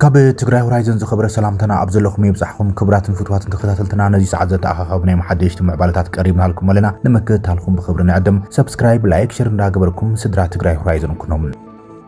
ካብ ትግራይ ሆራይዘን ዝኸበረ ሰላምታና ኣብ ዘለኹም ይብጻሕኹም ክብራትን ፍትዋትን ተኸታተልትና ነዚ ሰዓት ዘተኣኻኸብ ናይ መሓደሽቲ ምዕባለታት ቀሪብናልኩም ኣለና ንምክትታልኩም ብክብሪ ንዕድም ሰብስክራይብ ላይክ ሸር እንዳገበርኩም ስድራ ትግራይ ሆራይዘን ኩኖም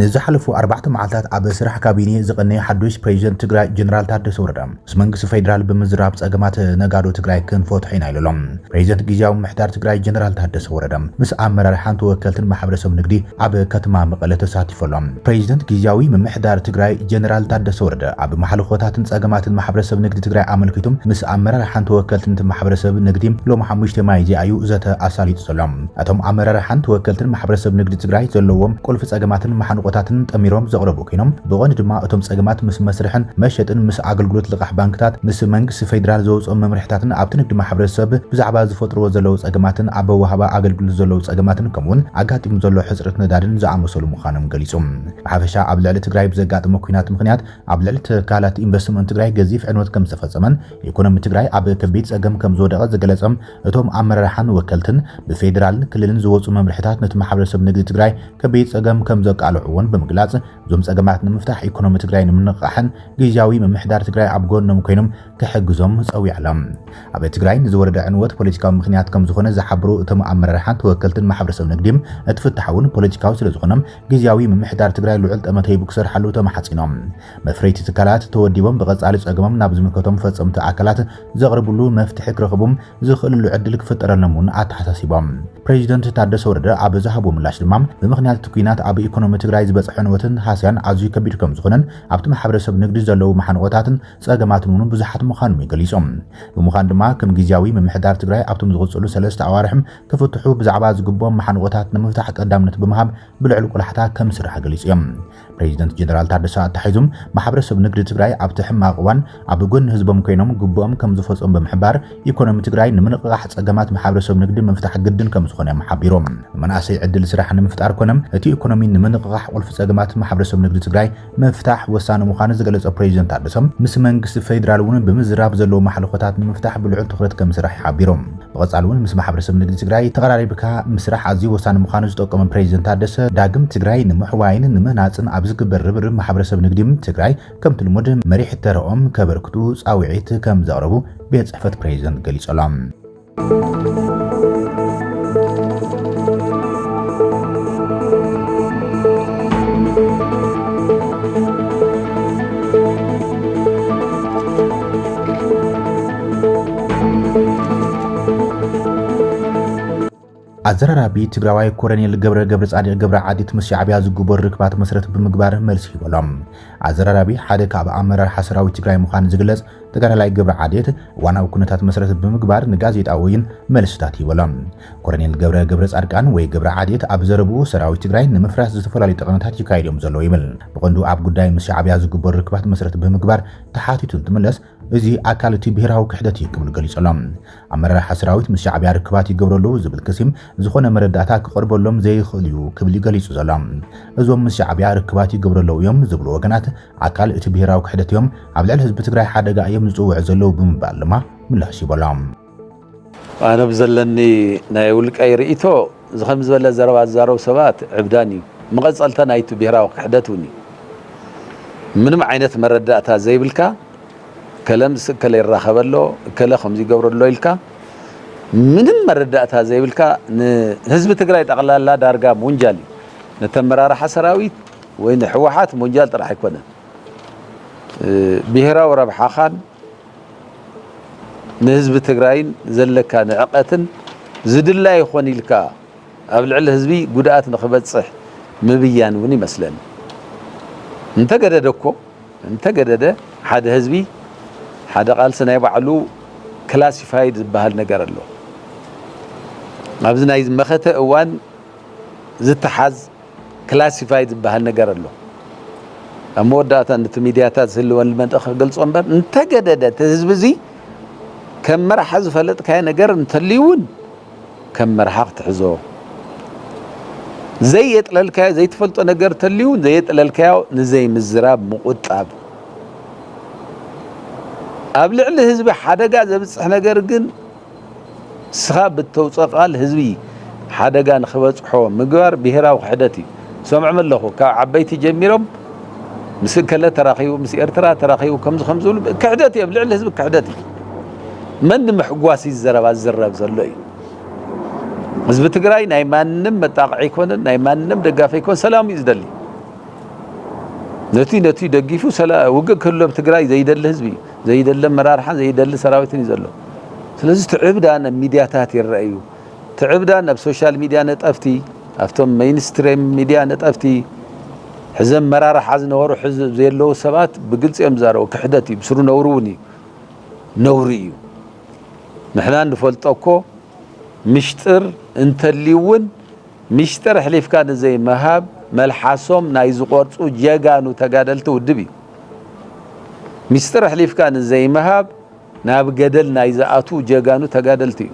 ንዝሓለፉ ኣርባዕተ መዓልታት ኣብ ስራሕ ካቢኔ ዝቐነየ ሓዱሽ ፕሬዚደንት ትግራይ ጀነራል ታደሰ ወረደ ምስ መንግስቲ ፌዴራል ብምዝራብ ፀገማት ነጋዶ ትግራይ ክንፈትሖ ኢና ኢሉ ኣሎ። ፕሬዚደንት ጊዜያዊ ምምሕዳር ትግራይ ጀነራል ታደሰ ወረደ ምስ ኣመራርሓን ተወከልትን ማሕበረሰብ ንግዲ ኣብ ከተማ መቐለ ተሳቲፉ ኣሎ። ፕሬዚደንት ጊዜያዊ ምምሕዳር ትግራይ ጀነራል ታደሰ ወረደ ኣብ ማሕልኾታትን ፀገማትን ማሕበረሰብ ንግዲ ትግራይ ኣመልኪቱ ምስ ኣመራርሓን ተወከልትን እቲ ማሕበረሰብ ንግዲ ሎሚ ሓሙሽተ ሚያዝያ እዩ ዘተ ኣሳሊጡ ዘሎ። እቶም ኣመራርሓን ተወከልትን ማሕበረሰብ ንግዲ ትግራይ ዘለዎም ቁልፊ ፀገማትን መሓንቖታትን ጠሚሮም ዘቕረቡ ኮይኖም ብቐንዱ ድማ እቶም ፀገማት ምስ መስርሕን መሸጥን ምስ ኣገልግሎት ልቓሕ ባንክታት ምስ መንግስቲ ፌዴራል ዘውፅኦም መምርሕታትን ኣብቲ ንግዲ ማሕበረሰብ ብዛዕባ ዝፈጥርዎ ዘለው ፀገማትን ኣብ ኣወሃህባ ኣገልግሎት ዘለው ፀገማትን ከምኡውን ኣጋጢሙ ዘሎ ሕፅረት ነዳድን ዝኣመሰሉ ምዃኖም ገሊፁ። ብሓፈሻ ኣብ ልዕሊ ትግራይ ብዘጋጠመ ኲናት ምኽንያት ኣብ ልዕሊ ትካላት ኢንቨስትመንት ትግራይ ገዚፍ ዕንወት ከምዝተፈፀመን ኢኮኖሚ ትግራይ ኣብ ከቢድ ፀገም ከምዝወደቐ ዝገለፀ እቶም ኣመራርሓን ወከልትን ብፌደራልን ክልልን ዝወፁ መምርሕታት ነቲ ማሕበረሰብ ንግዲ ትግራይ ከቢድ ፀገም ከምዘቃልዑ እውን ብምግላፅ እዞም ፀገማት ንምፍታሕ ኢኮኖሚ ትግራይ ንምንቕቓሕን ግዝያዊ ምምሕዳር ትግራይ ኣብ ጎኖም ኮይኖም ክሕግዞም ፀዊዖሎም። ኣብ ትግራይ ንዝወረደ ዕንወት ፖለቲካዊ ምኽንያት ከምዝኾነ ዝሓበሩ እቶም ኣመራርሓን ተወከልትን ማሕበረሰብ ንግዲ እቲ ፍታሕ እውን ፖለቲካዊ ስለዝኾነ ግዝያዊ ምምሕዳር ትግራይ ልዑል ጠመተ ሂቡ ክሰርሓሉ ተማሕፂኖም። መፍረይቲ ትካላት ተወዲቦም ብቐፃሊ ፀገሞም ናብ ዝምልከቶም ፈፀምቲ ኣካላት ዘቕርብሉ መፍትሒ ክረኽቡ ዝኽእልሉ ዕድል ክፍጠረሎም እውን ኣተሓሳሲቦም። ፕሬዚደንት ታደሰ ወረደ ኣብ ዝሃብዎ ምላሽ ድማ ብምኽንያት እቲ ኲናት ኣብ ኢኮኖሚ ትግራይ ዝበፅሐ ዕንወትን ሃስያን ኣዝዩ ከቢድ ከምዝኾነን ኣብቲ ማሕበረሰብ ንግዲ ዘለዉ መሓንቖታትን ፀገማትን እውን ብዙሓት ምዃኖም እዩ ገሊፁ። ብምዃኑ ድማ ከም ጊዚያዊ ምምሕዳር ትግራይ ኣብቶም ዝቕፅሉ ሰለስተ ኣዋርሕ ክፍትሑ ብዛዕባ ዝግብኦም መሓንቖታት ንምፍታሕ ቀዳምነት ብምሃብ ብልዑል ቆላሕታ ከምዝስራሕ ገሊፆም። ፕሬዚደንት ጀነራል ታደሰ ኣተሓሒዙ ማሕበረሰብ ንግዲ ትግራይ ኣብቲ ሕማቕ እዋን ኣብ ጎኒ ህዝቦም ኮይኖም ግቡኦም ከምዝፈፀሙ ብምሕባር ኢኮኖሚ ትግራይ ንምንቕቓሕ ፀገማት ማሕበረሰብ ንግዲ ምፍታሕ ግድን ከምዝኾነ እዮም ሓቢሮም። ንመናእሰይ ዕድል ስራሕ ንምፍጣር ኮነ እቲ ኢኮኖሚ ንምንቕቓሕ ቁልፊ ፀገማት ማሕበረሰብ ንግዲ ትግራይ ምፍታሕ ወሳኒ ምዃኑ ዝገለፀ ፕሬዚደንት ታደሰ ምስ መንግስቲ ፌዴራል እውን ብምዝራብ ዘለዉ ማሕለኾታት ንምፍታሕ ብልዑል ትኹረት ከምዝስራሕ ሓቢሮም። ብቐፃሊ እውን ምስ ማሕበረሰብ ንግዲ ትግራይ ተቐራሪብካ ምስራሕ ኣዝዩ ወሳኒ ምዃኑ ዝጠቆመ ፕሬዚደንት ታደሰ፣ ዳግም ትግራይ ንምሕዋይን ንምህናፅን ኣብ ዝግበር ርብርብ ማሕበረሰብ ንግዲ ትግራይ ከምቲ ልሙድ መሪሕ ተረኦም ከበርክቱ ፃውዒት ከምዘቕረቡ ቤት ፅሕፈት ፕሬዚደንት ገሊፁ ኣሎ። ኣዘራራቢ ትግራዋይ ኮረኔል ገብረ ገብረጻድቅ ገብረ ዓዲት ምስ ሻዕቢያ ዝግበሩ ርክባት መሰረት ብምግባር መልሲ ሂበሎም። ኣዘራራቢ ሓደ ካብ ኣመራርሓ ሰራዊት ትግራይ ምዃኑ ዝግለጽ ተጋዳላይ ገብረ ዓዴት እዋናዊ ኩነታት መሰረት ብምግባር ንጋዜጣዊ ወይን መልስታት ሂበሎም። ኮረኔል ገብረ ገብረ ጻድቃን ወይ ገብረ ዓዴት ኣብ ዘረብኡ ሰራዊት ትግራይ ንምፍራስ ዝተፈላለዩ ጠቐነታት ይካየድ እዮም ዘሎ ይብል። ብቐንዱ ኣብ ጉዳይ ምስ ሻዕቢያ ዝግበሩ ርክባት መሰረት ብምግባር ተሓቲቱ እንትምለስ እዚ ኣካል እቲ ብሄራዊ ክሕደት እዩ ክብል ገሊጹ ኣሎ። ኣመራርሓ ሰራዊት ምስ ሻዕብያ ርክባት ይገብረሉ ዝብል ክሲ ዝኾነ መረዳእታ ክቐርበሎም ዘይኽእል እዩ ክብል እዩ ገሊጹ ዘሎ። እዞም ምስ ሻዕብያ ርክባት ይገብረለው እዮም ዝብሉ ወገናት ኣካል እቲ ብሄራዊ ክሕደት እዮም፣ ኣብ ልዕሊ ህዝቢ ትግራይ ሓደጋ እዮም ዝጽውዑ ዘለው ብምባል ድማ ምላሽ ሂቡ ኣሎ። ኣነ ብዘለኒ ናይ ውልቀይ ርእይቶ እዚ ከም ዝበለ ዘረባ ዝዛረቡ ሰባት ዕብዳን እዩ፣ መቐጸልታ ናይቲ ብሄራዊ ክሕደት እውን እዩ። ምንም ዓይነት መረዳእታ ዘይብልካ እከለ ምስ እከለ ይራኸብ ኣሎ፣ እከለ ከምዚ ይገብር ኣሎ ኢልካ ምንም መረዳእታ ዘይብልካ ንህዝቢ ትግራይ ጠቕላላ ዳርጋ ምውንጃል እዩ። ነቲ ኣመራርሓ ሰራዊት ወይ ንህወሓት ምውንጃል ጥራሕ ኣይኮነን፣ ብሄራዊ ረብሓኻን ንህዝቢ ትግራይን ዘለካ ንዕቀትን ዝድላይ ይኾን ኢልካ ኣብ ልዕሊ ህዝቢ ጉድኣት ንክበፅሕ ምብያን እውን ይመስለኒ። እንተገደደ እኮ እንተገደደ ሓደ ህዝቢ ሓደ ቃልሲ ናይ ባዕሉ ክላሲፋይድ ዝበሃል ነገር ኣሎ። ኣብዚ ናይ መኸተ እዋን ዝተሓዝ ክላሲፋይድ ዝበሃል ነገር ኣሎ ኣብ መወዳእታ ነቲ ሚድያታት ዝህልወን ልመንጠ ክገልጾ እምበር እንተገደደ እቲ ህዝቢ እዚ ከም መርሓ ዝፈለጥካዮ ነገር እንተልዩ እውን ከም መርሓ ክትሕዞ ዘየጥለልካዮ ዘይትፈልጦ ነገር ተልዩ ዘየጥለልካዮ ንዘይምዝራብ ምቁጣብ ኣብ ልዕሊ ህዝቢ ሓደጋ ዘብፅሕ ነገር ግን ንስኻ ብእተውጽኦ ቃል ህዝቢ ሓደጋ ንኽበጽሖ ምግባር ብሄራዊ ክሕደት እዩ። ሰምዖም ኣለኹ ካብ ዓበይቲ ጀሚሮም ምስ እከለ ተራኺቡ ምስ ኤርትራ ተራኺቡ ከምዚ ከም ዝብሉ ክሕደት እዩ ኣብ ልዕሊ ህዝቢ ክሕደት እዩ። መን ንምሕጓስ እዩ ዘረባ ዝዝረብ ዘሎ እዩ። ህዝቢ ትግራይ ናይ ማንም መጣቕዒ ኣይኮነን፣ ናይ ማንም ደጋፊ ኣይኮን፣ ሰላም እዩ ዝደሊ። ነቲ ነቲ ደጊፉ ውግእ ክህሉ ኣብ ትግራይ ዘይደሊ ህዝቢ እዩ። ዘይደሊ ኣመራርሓን ዘይደሊ ሰራዊትን እዩ ዘሎ። ስለዚ እቲ ዕብዳን ኣብ ሚድያታት ይረኣ እዩ። እቲ ዕብዳን ኣብ ሶሻል ሚድያ ነጠፍቲ፣ ኣብቶም መይንስትሪም ሚድያ ነጠፍቲ፣ ሕዚ ኣመራርሓ ዝነበሩ ሕዚ ዘየለዉ ሰባት ብግልፂ እዮም ዝዛረቡ። ክሕደት እዩ፣ ብስሩ ነውሪ እውን እዩ። ነውሪ እዩ። ንሕና ንፈልጦ እኮ ምሽጥር እንተልዩ እውን ምሽጥር ኣሕሊፍካ ንዘይምሃብ መልሓሶም ናይ ዝቖርፁ ጀጋኑ ተጋደልቲ ውድብ እዩ። ሚስጥር ኣሕሊፍካ ንዘይምሃብ ናብ ገደል ናይ ዝኣትዉ ጀጋኑ ተጋደልቲ እዩ።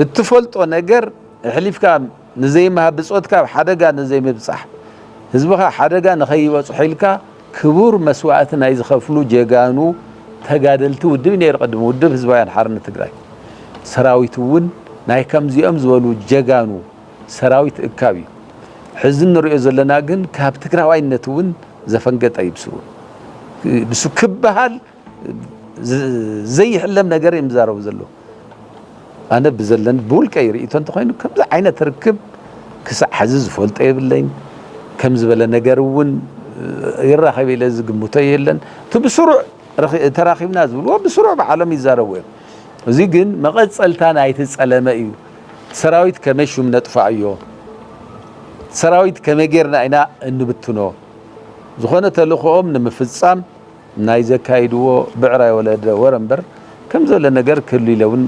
እትፈልጦ ነገር ኣሕሊፍካ ንዘይምሃብ ብፆትካ ኣብ ሓደጋ ንዘይምብፃሕ ህዝብኻ ሓደጋ ንኸይበፅሖ ኢልካ ክቡር መስዋእቲ ናይ ዝኸፍሉ ጀጋኑ ተጋደልቲ ውድብ እዩ ነይሩ። ቅድሚ ውድብ ህዝባውያን ሓርነት ትግራይ ሰራዊት እውን ናይ ከምዚኦም ዝበሉ ጀጋኑ ሰራዊት እካብ እዩ ሕዚ እንሪኦ ዘለና ግን ካብ ትግራዋይነት እውን ዘፈንገጠ እዩ ብሱ ብሱ ክበሃል ዘይሕለም ነገር እዮም ዝዛረቡ ዘለዉ ኣነ ብዘለኒ ብውልቀይ ርእቶ እንተኮይኑ ከምዚ ዓይነት ርክብ ክሳዕ ሕዚ ዝፈልጦ የብለኝ ከም ዝበለ ነገር እውን ይራኸብ ኢለ ዝግምቶ የለን እቲ ብስሩዕ ተራኺብና ዝብልዎ ብስሩዕ ባዕሎም ይዛረቡ እዮም እዚ ግን መቐፀልታ ናይቲ ፀለመ እዩ ሰራዊት ከመይ ሹም ነጥፋኣዮ ሰራዊት ከመይ ጌርና ኢና እንብትኖ ዝኾነ ተልእኾኦም ንምፍጻም ናይ ዘካይድዎ ብዕራይ ወለደ ወረ እምበር ከምዘለ ነገር ክህሉ ኢለ እውን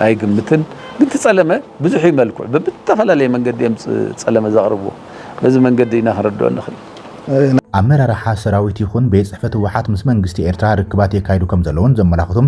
ኣይግምትን ግን ትጸለመ ብዙሕ እዩ መልክዑ ብብተፈላለየ መንገዲ እዮም ጸለመ ዘቕርብዎ በዚ መንገዲ ኢና ክንርድኦ ንኽእል ኣመራርሓ ሰራዊት ይኹን ቤት ጽሕፈት ህወሓት ምስ መንግስቲ ኤርትራ ርክባት የካይዱ ከምዘለዉን ዘመላኽቱም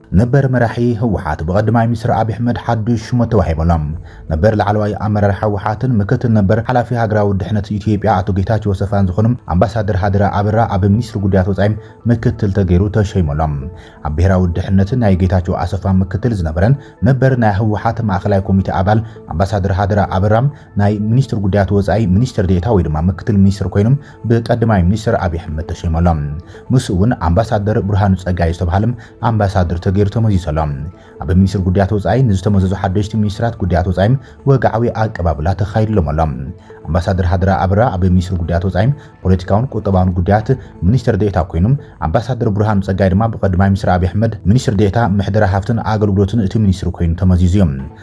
ነበር መራሒ ህወሓት ብቐድማይ ሚኒስትር ኣብይ ኣሕመድ ሓዱሽ ሹመት ተዋሂበሎም። ነበር ላዕለዋይ ኣመራርሓ ህወሓትን ምክትል ነበር ሓላፊ ሃገራዊ ድሕነት ኢትዮጵያ ኣቶ ጌታቸው ሰፋን ዝኾኑ ኣምባሳደር ሃደራ ኣበራ ኣብ ሚኒስትሪ ጉዳያት ወፃኢ ምክትል ተገይሩ ተሸይሞሎም። ኣብ ብሄራዊ ድሕነት ናይ ጌታቸው ኣሰፋ ምክትል ዝነበረን ነበር ናይ ህወሓት ማእኸላይ ኮሚቴ ኣባል ኣምባሳደር ሃደራ ኣበራ ናይ ሚኒስትሪ ጉዳያት ወፃኢ ሚኒስትር ዴኤታ ወይ ድማ ምክትል ሚኒስትር ኮይኖም ብቀዳማይ ሚኒስትር ኣብይ ኣሕመድ ተሸይሙ ኣሎ። ምስኡ እውን ኣምባሳደር ብርሃኑ ጸጋይ ዝተብሃለ ኣምባሳደር ተገይሩ ተመዚዙ ኣሎ። ኣብ ሚኒስትር ጉዳያት ወጻኢ ንዝተመዘዙ ሓደሽቲ ሚኒስትራት ጉዳያት ወጻኢ ወግዓዊ ኣቀባብላ ተኻይድሎም ኣሎ። ኣምባሳደር ሃደራ ኣበራ ኣብ ሚኒስትር ጉዳያት ወጻኢ ፖለቲካውን ቁጠባውን ጉዳያት ሚኒስትር ዴኤታ ኮይኑ፣ ኣምባሳደር ብርሃኑ ጸጋይ ድማ ብቀዳማይ ሚኒስትር ኣብይ ኣሕመድ ሚኒስትር ዴኤታ ምሕደራ ሃፍትን ኣገልግሎትን እቲ ሚኒስትሪ ኮይኑ ተመዚዙ እዩ።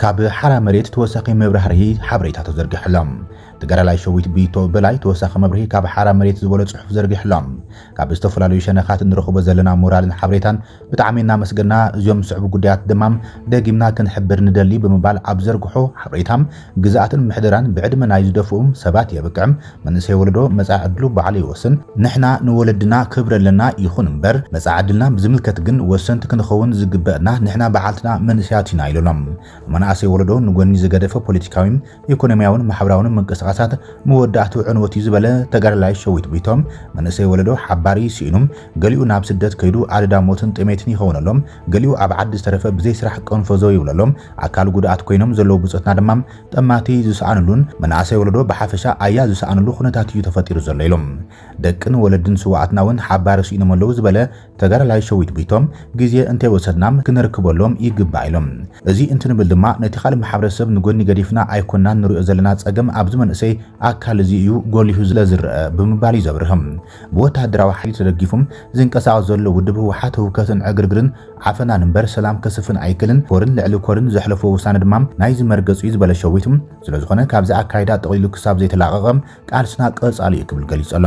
ካብ ሓራ መሬት ተወሳኺ መብራህርሂ ሓበሬታ ተዘርጊሑሎም። ተጋዳላይ ሸዊት ብይቶ በላይ ተወሳኺ መብርሂ ካብ ሓራ መሬት ዝበሎ ጽሑፍ ዘርጊሑሎም። ካብ ዝተፈላለዩ ሸነኻት እንረኽቦ ዘለና ሞራልን ሓበሬታን ብጣዕሚ እናመስገና እዚኦም ዝስዕቡ ጉዳያት ድማ ደጊምና ክንሕብር ንደሊ ብምባል ኣብ ዘርግሖ ሓበሬታ ግዝኣትን ምሕደራን ብዕድመ ናይ ዝደፍኡ ሰባት የብቅዕ፣ መንእሰይ ወለዶ መጻኢ ዕድሉ ባዕሉ ይወስን፣ ንሕና ንወለድና ክብሪ ኣለና ይኹን እምበር መጻኢ ዕድልና ብዝምልከት ግን ወሰንቲ ክንኸውን ዝግበእና ንሕና በዓልትና መንእሰያት ኢና ኢሎሎም። ንመናእሰይ ወለዶ ንጎኒ ዝገደፈ ፖለቲካዊ፣ ኢኮኖሚያውን ማሕበራውን ምንቅስቃሳት መወዳእትኡ ዕንወት'ዩ ዝበለ ተጋዳላይ ሸዊት ጎይትኦም መንእሰይ ወለዶ ሓባሪ ስኢኑ ገሊኡ ናብ ስደት ከይዱ ኣደዳ ሞትን ጥሜትን ይኸውነሎም ገሊኡ ኣብ ዓዲ ዝተረፈ ብዘይ ስራሕ ቀንፈዘው ይብለሎም፣ ኣካል ጉዱኣት ኮይኖም ዘለዉ ብጾትና ድማ ጠማቲ ዝሰኣንሉን መናእሰይ ወለዶ ብሓፈሻ ኣያ ዝሰኣንሉ ኩነታት እዩ ተፈጢሩ ዘሎ ኢሎም። ደቅን ወለድን ስውኣትና እውን ሓባሪ ስኢኖም ኣለዉ ዝበለ ተጋዳላይ ሸዊት ቡይቶም፣ ግዜ እንተይወሰድና ክነርክበሎም ይግባእ ኢሎም። እዚ እንትንብል ድማ ነቲ ካልእ ማሕበረሰብ ንጎኒ ገዲፍና ኣይኮናን ንሪኦ ዘለና ጸገም ኣብዚ መንእሰይ ኣካል እዚ እዩ ጎሊሁ ስለዝረኣ ብምባል እዩ ዘብርህ። ብወተሃደራዊ ሓይሊ ተደጊፉ ዝንቀሳቐስ ዘሎ ውድብ ህወሓት ህውከትን ዕግርግርን ዓፈናን እምበር ሰላም ከስፍን ኣይክልን፣ ኮርን ልዕሊ ኮርን ዘሕለፎ ውሳነ ድማ ናይዚ መርገጽ እዩ ዝበለ ሸዊት፣ ስለዝኾነ ካብዚ ኣካይዳ ጠቕሊሉ ክሳብ ዘይተላቐቐ ቃልስና ቀጻሊ እዩ ክብል ገሊጹ ኣሎ።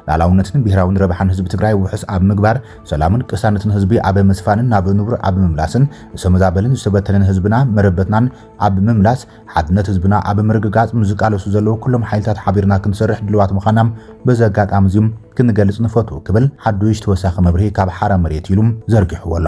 ላላውነትን ብሄራውን ረብሓን ህዝቢ ትግራይ ውሑስ ኣብ ምግባር፣ ሰላምን ቅሳነትን ህዝቢ ኣብ ምስፋንን ናብ ንቡር ኣብ ምምላስን፣ ዝተመዛበለን ዝተበተነን ህዝብና መረበትናን ኣብ ምምላስ፣ ሓድነት ህዝብና ኣብ ምርግጋጽ ንዝቃለሱ ዘለዉ ኩሎም ሓይልታት ሓቢርና ክንሰርሕ ድልዋት ምዃና በዚ ኣጋጣሚ እዚ ክንገልጽ ንፈቱ ክብል ሓዱሽ ተወሳኺ መብርሂ ካብ ሓራ መሬት ኢሉ ዘርጊሕዎ ኣሎ።